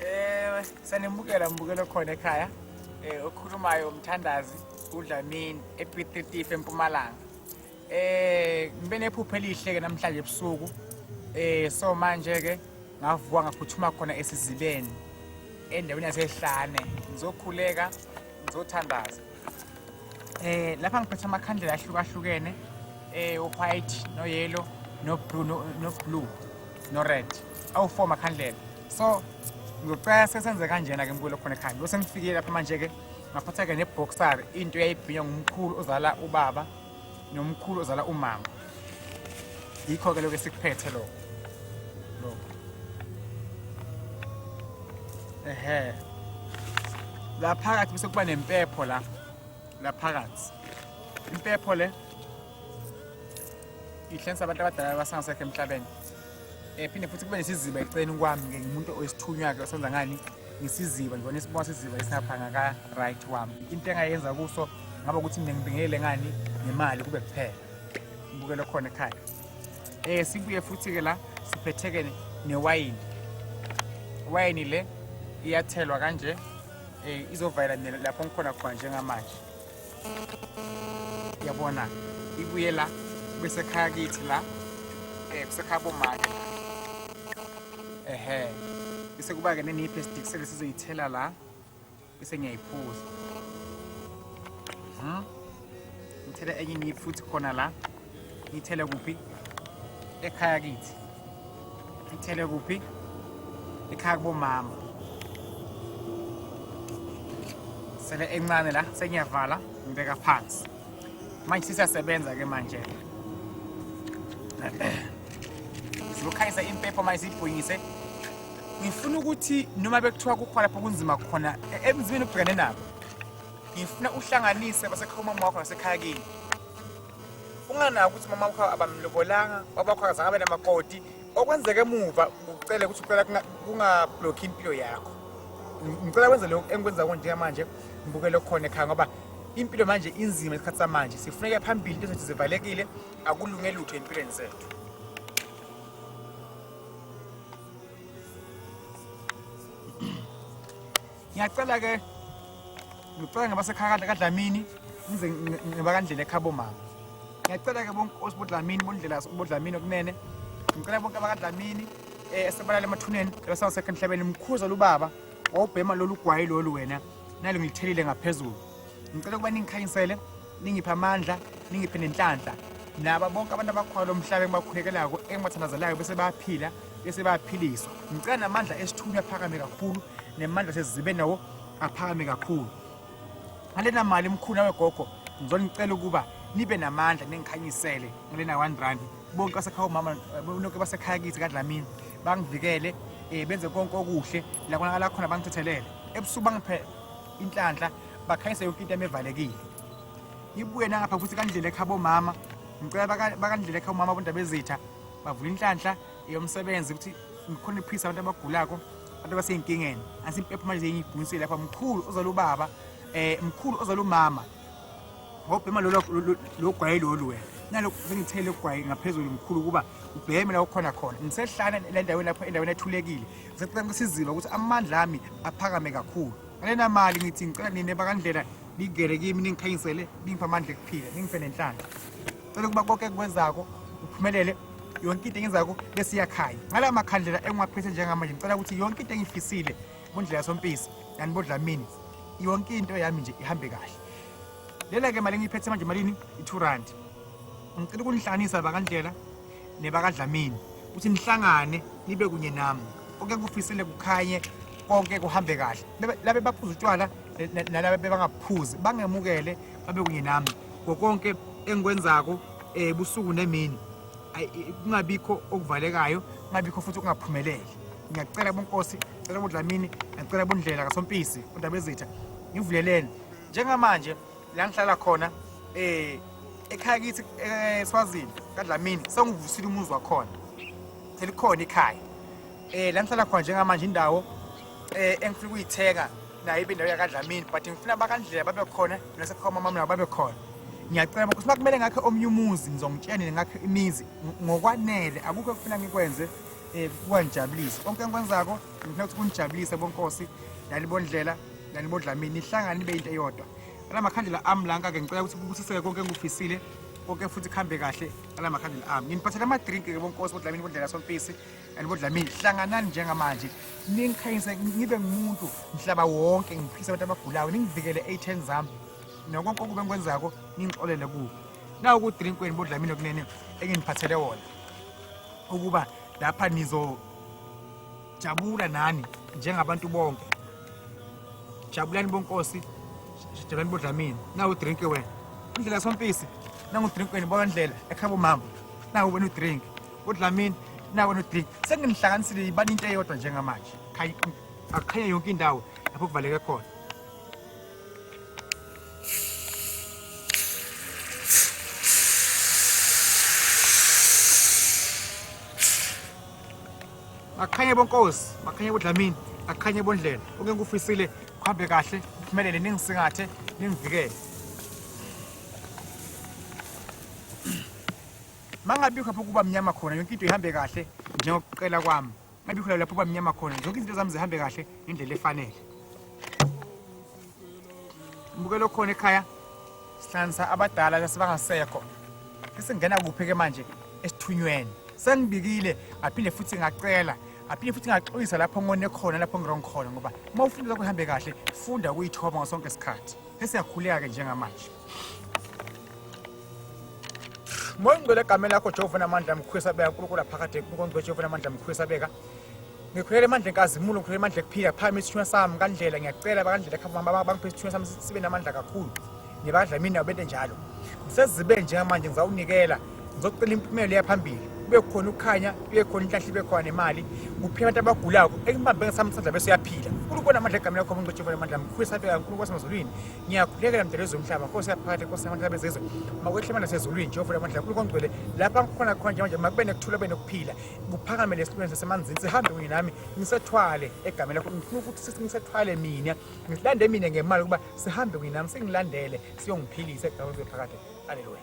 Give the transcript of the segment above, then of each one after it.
ewe sanimukela mbukelo khona ekhaya eh okhulumayo umthandazi udlamini epitritife empumalanga eh ngibe nephupho elihle ke namhlanje ebusuku eh so manje ke ngavuka ngaphuthuma khona esizibeni endaweni yasehlane ngizokhuleka ngizothandaza Eh lapha ngiphethe amakhandlela ahlukahlukene eh white no yellow no blue no, no blue no red. Awu four makhandlela. So ngicela sesenze kanjena ke mbulo khona ekhaya. Bese ngifikile lapha manje ke ngaphatha ke ne boxer into yayibhinya ngumkhulu ozala ubaba nomkhulu ozala umama yikho-ke lokho esikuphethe lokho lokho ehe la phakathi bese kuba nempepho la la phakathi impepho le ihlensa abantu abadala basangasekho emhlabeni Eh phinde futhi kube nesiziba eceleni kwami ke ngimuntu oyisithunywa ke osenza ngani ngisiziba ngibona isibona siziba esingaphanga ka right wami. Into engayenza kuso ngaba ukuthi mina ngibingelele ngani nemali kube kuphela. Ngibukele khona ekhaya. Eh sibuye futhi ke la siphetheke newayini. Wayini le iyathelwa kanje eh izovalela lapho ngikhona khona njengamanje. yabona ibuye la kusekhaya kithi la eh kusekhaya bomake ehe bese kuba ke neni plastic sele sizoyithela la bese ngiyayiphuza mhm ngithela enye ngiyifuthi khona la ngithele kuphi ekhaya kithi ngithele kuphi ekhaya kubomama sele encane la sengiyavala ngibeka phansi manje sisasebenza ke manje sizokhanyisa impepho manje siyibhunyise ngifuna ukuthi noma bekuthiwa kukhona lapho kunzima khona e-, emzimeni obhekane nabo ngifuna uhlanganise basekhaya umama wakho nasekhaya kini unganaki ukuthi mama wakho abamlobolanga wabakho akazange abe namakoti okwenzeka emuva ucele ukuthi ucela kungablokhi impilo yakho ngicela kwenze lokho engikwenza konje manje ngibukele khona ekhaya ngoba impilo manje inzima isikhathi samanje sifuneka phambili into zethu zivalekile akulunge lutho empilweni zethu ngiyacela ke ngicela ngabasekhakadla kadlamini ngize ngiba kandlela ekhabo mama ngiyacela ke bonke osibodlamini bondlela bodlamini okunene ngicela bonke abakadlamini um eh, esebalala emathuneni ebasawasekho emhlabeni mkhuza lubaba wawubhema lolu gwayi lolu wena nalo ngilithelile ngaphezulu ngicela ukuba ningikhanyisele ningiphe amandla ningiphe nenhlanhla naba bonke abantu abakhona lo mhlaba engibakhulekelako engibathandazelayo bese bayaphila bese bayaphiliswa ngicela namandla esithunywa aphakame kakhulu nemandla sezizibe nawo aphakame kakhulu ngalena mali mkhulu wegogo ngizonicela ukuba nibe namandla nengikhanyisele ngalena 1 rand bonke basekhaya umama bonke basekhaya kithi kadlamini bangivikele um benze konke okuhle lakonakala khona bangithethelele ebusuku bangiphele inhlanhla bakhanyise yonke into emevalekile ibuye nangapha futhi kandlela ekha bomama ngicela bakandlela ekha umama abondaba ezitha bavula inhlanhla yomsebenzi ukuthi ngikhona iphisa abantu abagulako abantu abaseyinkingeni asimpepha manje zeyibhunisile lapha mkhulu ozala ubaba eh mkhulu ozala umama ngobhema lolo logwaye lolu wena nalokho sengithele ugwaye ngaphezulu mkhulu ukuba ubheme la ukhona khona ngisehlana endaweni lapho endaweni ethulekile Ngicela kusizile ukuthi amandla ami aphakame kakhulu. Ngalena mali ngithi ngicela nine bakandlela ningene kimi ningikhanyisele ningiphe amandla ekuphila ningiphe nenhlanhla. Cela ukuba konke kwenzako uphumelele yonke into engizako bese iyakhanya ngala makhandlela engiwaphethe njengamanje ngicela ukuthi yonke into engiyifisile kundlela sompisi yani bodlamini yonke into yami nje ihambe kahle lela-ke mali engiyiphethe manje malini i-two rand ngicela ukunihlanisa bakandlela nebakadlamini ukuthi nihlangane nibe kunye nami konke kufisile kukhanye konke kuhambe kahle labe baphuza utshwala nalaba bebangaphuzi bangemukele babe kunye nami ngokonke engikwenzako um eh, busuku nemini kungabikho okuvalekayo kungabikho futhi kungaphumeleli ngiyacela bonkosi cela bodlamini ngiyacela bondlela kasompisi undabezitha ngivuleleni njengamanje la ngihlala khona eh ekhaya kithi eSwazini eh, kaDlamini sengivusile umuzi wakhona selikhona ikhaya eh la ngihlala khona njengamanje indawo eh engifuna ukuyithenga nayo ibe indawo yakaDlamini but ngifuna bakandlela babe khona mina sekhoma mama nabo babe khona ngiyacela ukuthi makumele ngakhe omnye umuzi ngizongitshenile ngakhe imizi ngokwanele akukho ekufuna ngikwenze eh kuwanjabulisa konke engikwenzako ngifuna ukuthi kunijabulise bonkosi nani bondlela nani bodlamini nihlangane nibe into eyodwa ala makhandlela ami lanka-ke ngicela ukuthi kubusiseke konke engikufisile konke futhi kuhambe kahle ala makhandlela ami nginiphathela amadrinki-ke bonkosi bodlamini bondlela sompisi nani bodlamini hlanganani njengamanje ningikhanyise ngibe ngumuntu mhlaba wonke ngiphise abantu abagulayo ningivikele ey'then zami nokonke okube ngikwenzako ngingixolele kuwo nawo kudrinkweni bodlamini okunene enginiphathele wona ukuba lapha nizo jabula nani njengabantu bonke jabulani bonkosi jabulani bodlamini nawu drink wena indlela sompisi nangu drink wena bona ndlela ekhabo mama nawu wena udrink bodlamini nawu wena udrink senginihlanganisile ibani into eyodwa njengamanje akukhenye yonke indawo lapho kuvaleke khona akhanye bonkosi makhanye bodlamini akhanye bondlela oke ngikufisile kuhambe kahle uphumelele ningisingathe ningivikele mangabikho pho kuba mnyama khona yonke into ihambe kahle njengokuqela kwami maybe khona lapho kwamnyama khona zonke izinto zami zihambe kahle ngendlela efanele mbukelo khona ekhaya sihlanganisa abadala lasebangasekho esingena kuphi-ke manje esithunyweni sengibikile ngaphinde futhi ngacela ngaphinde futhi ngaxolisa lapho ngone khona lapho ngirong khona ngoba uma ufunda kuhambe kahle funda ukuyithoba ngasonke isikhathi esiyakhuleka-ke njengamanje moya ongcwele egameni lakho jehova namandla mkhulisa beka nkulunkulu aphakade nkulunkulu ongcwele jehova namandla mkhulisa beka ngikhulele emandla enkazimulo ngikhulele emandla ekuphila phakama isithunywa sami kandlela ngiyacela bakandlela khamba bangiphe isithunywa sami sibe namandla kakhulu nibadla mina bente njalo ngisezibe njengamanje ngizawunikela Ngizocela impumela eyaphambili kube khona ukukhanya kube khona inhlahla ibe khona nemali kuphela abantu abagulako ekubambe ngesamsandla bese uyaphila nkulunkulu namandla egameni lakho umuntu otshifa namandla mkhulu esafika kankulu kwasemazulwini ngiyakhulekela mdala wezomhlaba nkosi yaphakathi nkosi namandla bezizwe makwehle amandla sezulwini jehova namandla nkulu kongcwele lapha ngikhona khona njenganje makube nekuthula kube nokuphila kuphakame lesilwane sasemanzini sihambe kunye nami ngisethwale egameni lakho ngifuna ukuthi sisi ngisethwale mina ngilande mina ngemali ukuba sihambe kunye nami singilandele siyongiphilisa egameni phakathi aleluya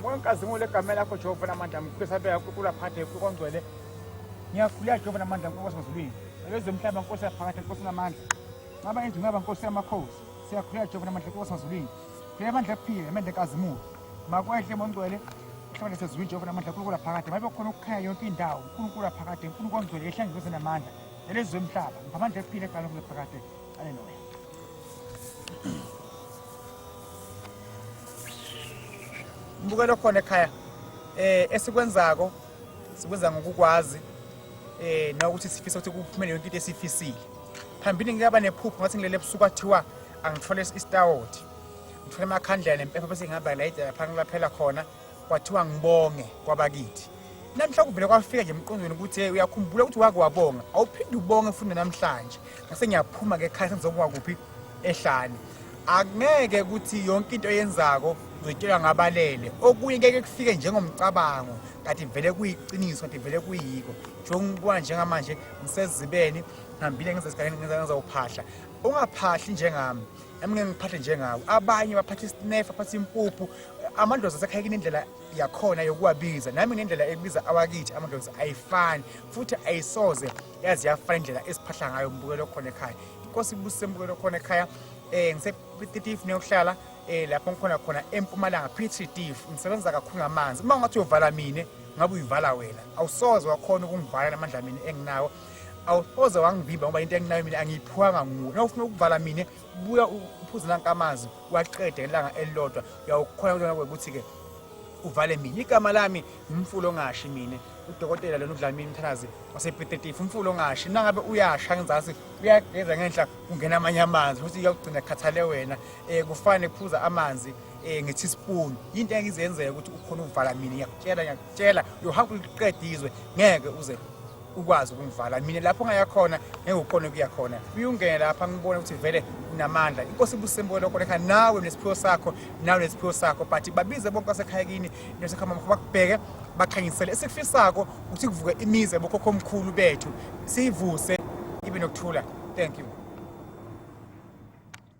Nginkazimule egameni lakho Jehova namandla ngikhulisa beka uNkulunkulu aphathe uNkulunkulu ongcwele ngiyakhuleka Jehova namandla uNkulunkulu wasezulwini ebezomhlaba nkosi yaphakatha nkosi namandla ngaba endlu ngaba nkosi yamakhosi siyakhuleka Jehova namandla uNkulunkulu wasezulwini khuleka amandla kuphile amandla enkazimulo makwehle mongcwele uhlangane sezulwini Jehova namandla uNkulunkulu aphakade mabe khona ukukhanya yonke indawo uNkulunkulu aphakade uNkulunkulu ongcwele ehlangene namandla elezwe emhlaba ngiphamandla ephile egalweni kuphakade Mbukelo khona ekhaya eh esikwenzako sikwenza ngokukwazi eh nokuthi sifisa ukuthi kuphumele yonke into esifisile phambili ngiyaba nephupho ngathi ngilele ebusuku kwathiwa angithole isitawoti ngithole amakhandlela nempepha bese ngihamba layida lapha ngilaphela khona kwathiwa ngibonge kwabakithi namhla kuvele kwafika nje emqondweni ukuthi hey uyakhumbula ukuthi wake wabonga awuphinde ubonge futhi namhlanje ngase ngiyaphuma ke ekhaya sengizokuba kuphi ehlane akungeke ukuthi yonke into eyenzako uzoyitshelwa ngabalele okunye keke kufike njengomcabango kanti vele kuyiqiniso kanti vele kuyiko njengokuba njengamanje ngisezibeni ngihambile ngezesigane ngizawuphahla ungaphahli njengami Emngeke ngiphathe njengawo. Abanye baphatha isinefa, baphatha impuphu. Amadlozi asekhayekini indlela yakhona yokuwabiza. Nami ngendlela ebiza awakithi amadlozi ayifani futhi ayisoze yazi yafana indlela esiphahla ngayo umbukelo khona ekhaya. Inkosi ibusise umbukelo khona ekhaya. Eh ngise 30 neyokuhlala eh lapho ngikhona khona eMpumalanga Petri Div ngisebenza kakhulu ngamanzi uma ungathi uyovala mina ngabe uyivala wena awusoze wakhona ukungivala namandla mina enginawo awusoze wangivimba ngoba into enginayo mina angiyiphuwanga nguwe na ufuna ukuvala mina buya uphuze nanka amanzi waqede ngelanga elilodwa uyawukhona kutona kwekuthi-ke uvale mina igama lami ngumfula ongashi mina udokotela lona udlamini mthanazi wasebhetetifu umfula ongashi nangabe uyasha ngenzasi uyageza ngenhla kungena amanye amanzi futhi uyakugcina khathale wena um kufane kuphuza amanzi um nge-teaspoon yinto engizenzeka ukuthi ukhona ukuvala mina ngiyakutshela ngiyakutshela uyohamba uliqedizwe ngeke uze ukwazi ukungivala mina lapho ngaya khona ngekukhona ukuya khona uyungene lapha ngibona ukuthi vele namandla inkosi ibusembuke lokho lekha nawe nesiphiwo sakho nawe nesiphiwo sakho but babize bonke asekhaya kini nesekhama mkho bakubheke bakhanyisele esikufisako ukuthi kuvuke imize bokhokho omkhulu bethu siyivuse ibe nokuthula thank you